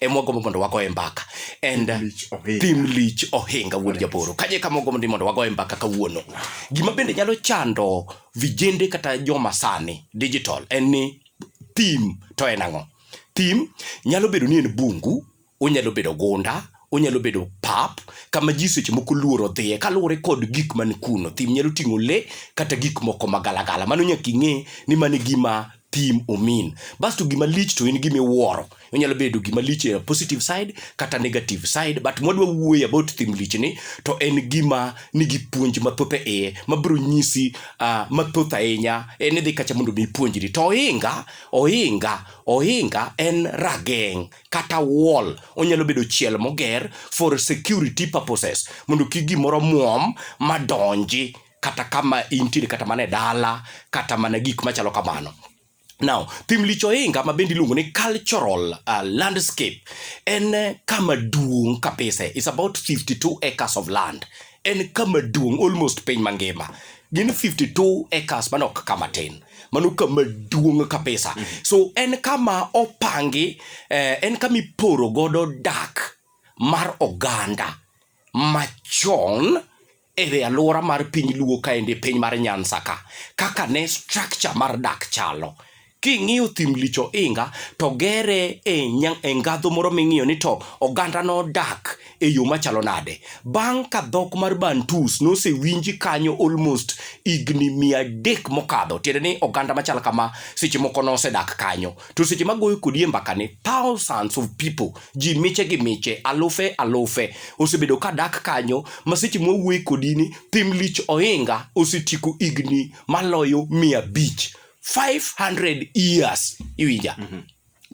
ema wagombo mondo wagoye mbaka and thim lich ohinga wuod japoro kaje kama wagombo ni mondo wagoye mbaka kawuono gima bende nyalo chando vijende kata joma sani digital en ni thim to en ang'o thim nyalo bedo ni en bungu onyalo bedo gunda onyalo bedo pap kama ji seche moko luoro dhiye kaluwore kod gik man kuno thim nyalo ting'o le kata gik moko magalagala mano nyaka ing'e ni mano e gima thim omin. Bas to gima lich to in gima iwuoro. Onyalo bedo gima lich e positive side kata negative side but mwadwa wuoyo about thim lich ni to en gima nigi puonj mathoth e iye mabiro nyisi uh, mathoth ahinya en idhi kacha mondo mi ipuonjri to ohinga ohinga ohinga en rageng' kata wall onyalo bedo chiel moger for security purposes mondo kik gimoro muom madonji kata kama intiere kata mana e dala kata mana gik machalo kamano Now, thim licho inga ma bende iluongo ni cultural uh, landscape en eh, kama duong' kabisa. It's about 52 acres of land. En kama duong' almost piny mangima. Gin 52 acres mano ok kama tin. Mano kama duong' kabisa. Mm -hmm. So en kama opangi, eh, en kama iporo godo dak mar oganda machon e alwora mar piny Luo kaendi e piny mar Nyansa ka kaka ne structure mar dak chalo. King'iyo thim lich ohinga to gere e, nya- e ngadho moro ming'iyo ni to oganda nodak e yo machalo nade. Bang' ka dhok mar Bantus nosewinji kanyo almost higni mia adek mokadho, tiende ni oganda machal kama seche moko nosedak kanyo. to seche magoyo kodi e mbakani thousands of people ji miche gi miche alufe alufe osebedo ka dak kanyo ma seche mwawuoye kodi ni thim lich ohinga osetieko higni maloyo mia abich 500 years iwinja mm -hmm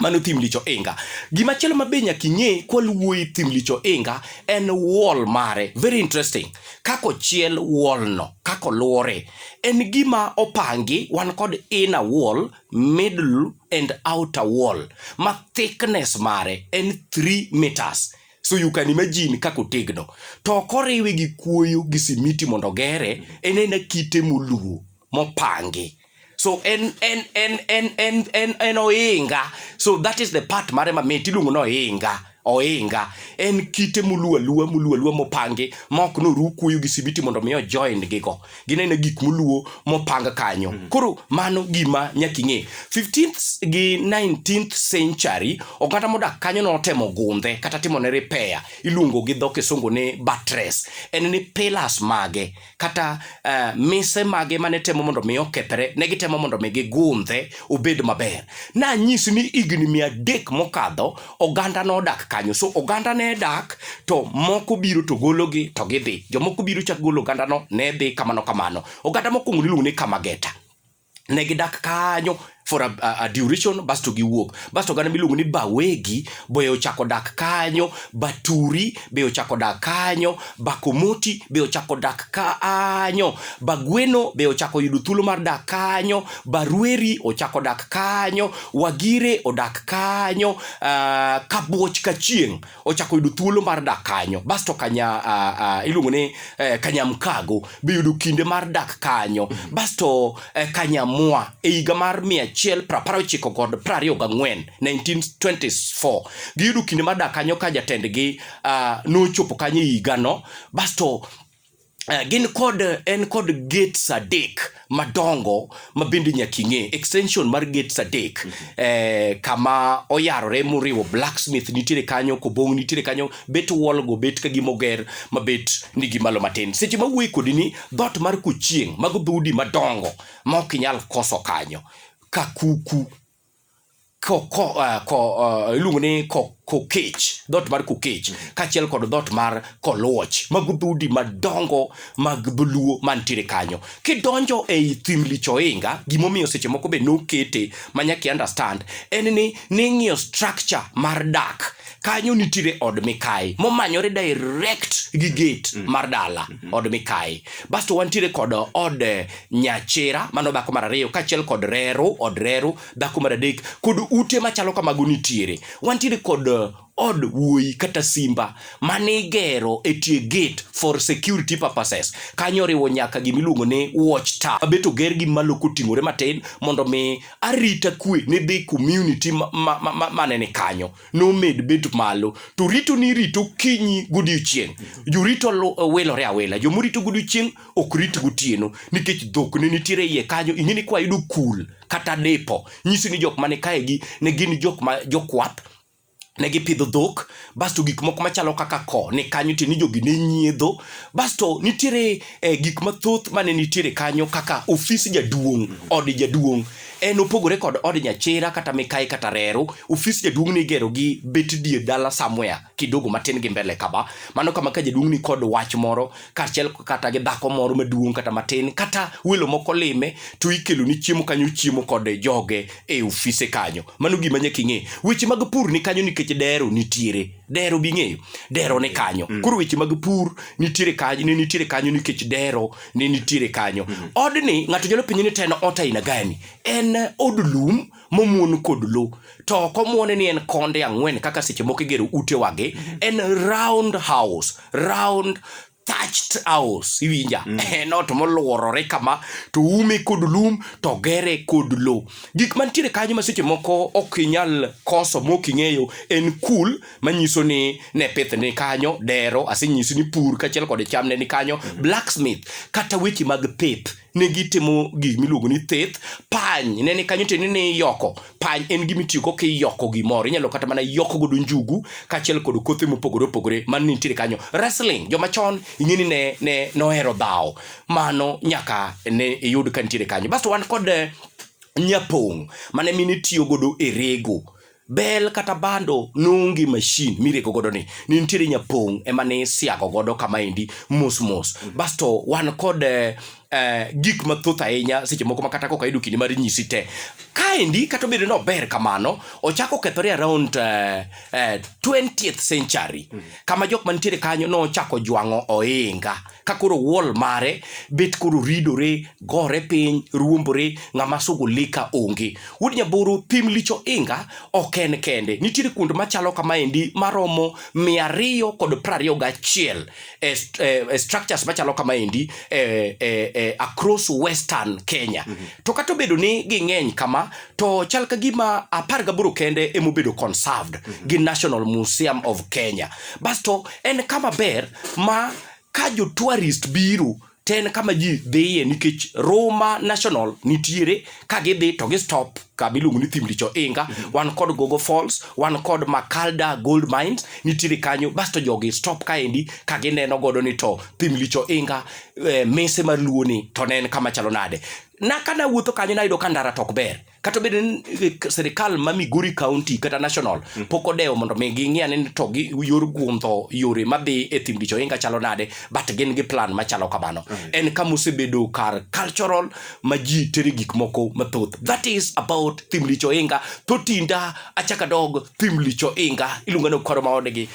mano thim licho inga gima chielo mabe nyaka ing'e kwaluwuoyi thim licho inga en wall mare very interesting kaka ochiel wallno kaka oluore en gima opangi wan kod inner wall middle and outer wall ma thickness mare en 3 meters so you can imagine kaka otegno to ok oriwe gi kuoyo gi simiti mondo ogere en ena kite moluwo mopangi so en en en en en en, en oinga so that is the part mare mamit iluongo ni oinga ohinga en kite moluo aluwa moluo aluwa mopangi ma ok noru kuoyo gi sibiti mondo mi ojoin gigo ginene gik moluo mopang kanyo mm. koro mano gima nyaka ing'e 15th gi 19th century oganda modak kanyo notemo gundhe kata timo ne repair iluongo gi dho kisungu ni buttress en ni pillars mage kata uh, mise mage mane temo mondo mi okethre ne gitemo mondo mi gigundhe obed maber nanyisi ni higni mia adek mokadho oganda nodak kanyo so oganda ne dak to moko biro to gologi to gidhi jomoko biro chak golo ogandano ne dhi kamano kamano oganda mokwongo niluongo ni kamageta ne gidak kanyo for a, a, a duration basto giwuok basto oganda miluongo ni bawegi be ochako dak kanyo baturi be ochako dak kanyo bakomoti be ochako dak kanyo bagweno be ochako yudo thuolo mar dak kanyo barweri ochako dak kanyo wagire odak kanyo uh, kabuoch kachieng ochako yudo thuolo mar dak kanyo basto kanya uh, uh, iluongo ni uh, kanyamkago be yudo kinde mar dak kanyo mm-hmm. basto uh, e, kanyamwa e higa mar 119 kod 24 1924 giyudo kinde mar dak kanyo ka jatendgi uh, nochopo kanyo e higano basto Uh, gin kod en kod gates adek madongo ma bende nyaka ing'e extension mar gates adek mm -hmm. eh, kama oyarore moriwo blacksmith nitiere kanyo kobong nitiere kanyo bet wall go bet ka gimoger ma bet ni gimalo matin seche ma wuoyi kodi ni dot mar kuchieng mago dhoudi madongo ma ok inyal koso kanyo kakuku Eh, iluongo ni kokech dhoot mar kokech mm. kaachiel kod dhoot mar koluoch mago dhoudi madongo mag dholuo mantiere kanyo kidonjo ei thim lichoinga gimomiyo seche moko be nokete manyaka understand en ni ning'iyo structure mar dak kanyo nitiere od mikayi momanyore direct gi gate mm. mar dala mm -hmm. od mikayi basto wantiere kod od eh, nyachira mano dhako mar ariyo kaachiel kod reru od reru dhako mar adek kod ute machalo kamago nitiere wantiere kod eh, od wuoyi kata simba mane igero e tie gate for security purposes kanyo oriwo nyaka gima iluongo ni watch tower abet oger gi malo koting'ore matin mondo mi arita kwe ne dhi community manene ma, ma, ma, ma kanyo nomed bet malo to rito ni rito kinyi godiochieng' jorito wilore awila jomorito godiochieng' ok rit gotieno nikech dhok ne nitiere iye kanyo ing'e ni kwayudo kul kata dipo nyisi ni jok mane kaegi ne gin jok ma jokwath ne gipidho dhok basto gik moko machalo kaka ko ni kanyo tiende ni jogi ne nyiedho basto nitiere eh, gik mathoth mane nitiere kanyo kaka ofis jaduong' od jaduong' En opogore kod od nyachira kata mikayi kata reru, ofis jaduong' ni igero gi bet dier dala somewhere kidogo matin gi mbele kaba. Mano kama ka jaduong' ni kod wach moro kaachiel kata gi dhako moro maduong' kata matin kata welo moko lime to ikelo ni chiemo kanyo chiemo kod joge e ofise kanyo. Mano gima nyaka ing'e. Weche mag pur ni kanyo nikech dero nitiere. Dero bing'eyo. Dero ni kanyo. Koro weche mag pur nitiere kanyo ne nitiere kanyo nikech dero ne nitiere kanyo mm-hmm. odni ng'ato nyalo penjo ni to en ot aina gani en od lum momuon kod lo to ok omuone ni en konde ang'wen kaka seche moko igero ute wage mm-hmm. en round house round thatched house iwinja mm. en ot moluorore kama to ume kod lum to gere kod lo gik mantiere kanyo ma seche moko ok inyal koso mok ing'eyo en kul manyiso ni ne pith ni kanyo dero asenyisi ni pur kachiel kod cham ne ni kanyo blacksmith kata weche mag pith ne gitimo gik miluongo ni thith pany ne ni kanyo tiende ni yoko pany en gima itiyogo kiyoko gimoro inyalo kata mana yoko godo njugu kachiel kod kothe mopogore opogore man nitiere kanyo wrestling joma chon ing'e ni ne, ne nohero dhawo mano nyaka ne iyud ka nitiere kanyo basto wan kod eh, nyapong' mane mine tiyo godo e rego Bel kata bando nonge mashin mirego godo ni ne nitiere nyapong' ema ne siago godo kama endi mos mos mm. basto wan kod eh, eh, gik mathoth ahinya seche moko ma kata kok ayudo kinde mar nyisi te kaendi kata obedo ni ober kamano ochako okethore around eh, eh, 20th century mm. kama jok mantiere kanyo nochako jwang'o ohinga ka koro wall mare bet koro ridore gore piny ruombore ng'ama sugo lika onge wuod nyaboro pim licho inga ok en kende nitiere kuond machalo kamaendi maromo mia ariyo kod prariyo gachiel e, st- e, e structures machalo kamaendi e, e, e, across western kenya mm-hmm. to kata obedo ni ging'eny kama to chal ka gima apar gaboro kende emobedo conserved mm -hmm. gi National Museum of Kenya. Basto en kama ber ma ka jo tourist biro to en kama ji dhiye nikech Roma National nitiere ka gidhi to gi stop kama iluongo ni Thimlicho Inga, mm -hmm. wan kod Gogo Falls, wan kod Makalda Gold Mines nitiere kanyo, basto jogi stop kaendi ka gineno godo ni to Thimlicho Inga eh, mese mar Luo ni to ne en kama chalo nade. na ka nawuotho kanyo nayudo ka ndara tok ber kata obedo ni eh, sirikal ma migori county kata national mm. pok odewo mondo mi ging'i ane ni to gi yor guondho yore madhi e thim dicho inga chalo nade but gin gi plan machalo kamano mm. en kama osebedo kar cultural ma ji tere gik moko mathoth that is about thim dicho inga to tinda achaka dog thim dicho inga iluonga ni okoro maodgi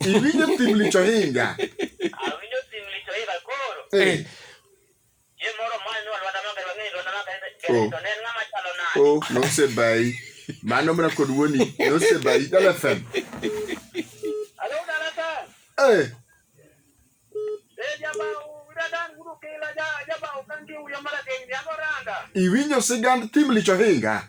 Iwinjo thim licho hinga. Eh. Oh. Oh, nosebayi. Mano mana kod wuoni nosebayi Dala FM. Eh. Iwinjo sigand thim licho hinga.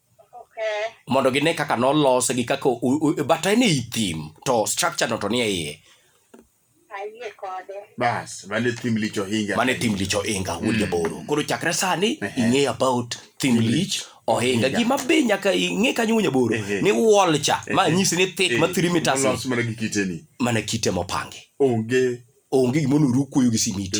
mondo gine kaka nolose gi kaka bata en ei thim to structure no to nie iye bas mane thim lich ohinga mane thim lich ohinga wuod mm. jaboro koro chakre sani ing'e about thim lich ohinga gima be nyaka ing'e kanyo wuod jaboro ni wall cha ma nyisi ni thick ma 3 meters mana kite mopangi onge onge gima onoru kuoyo gi simiti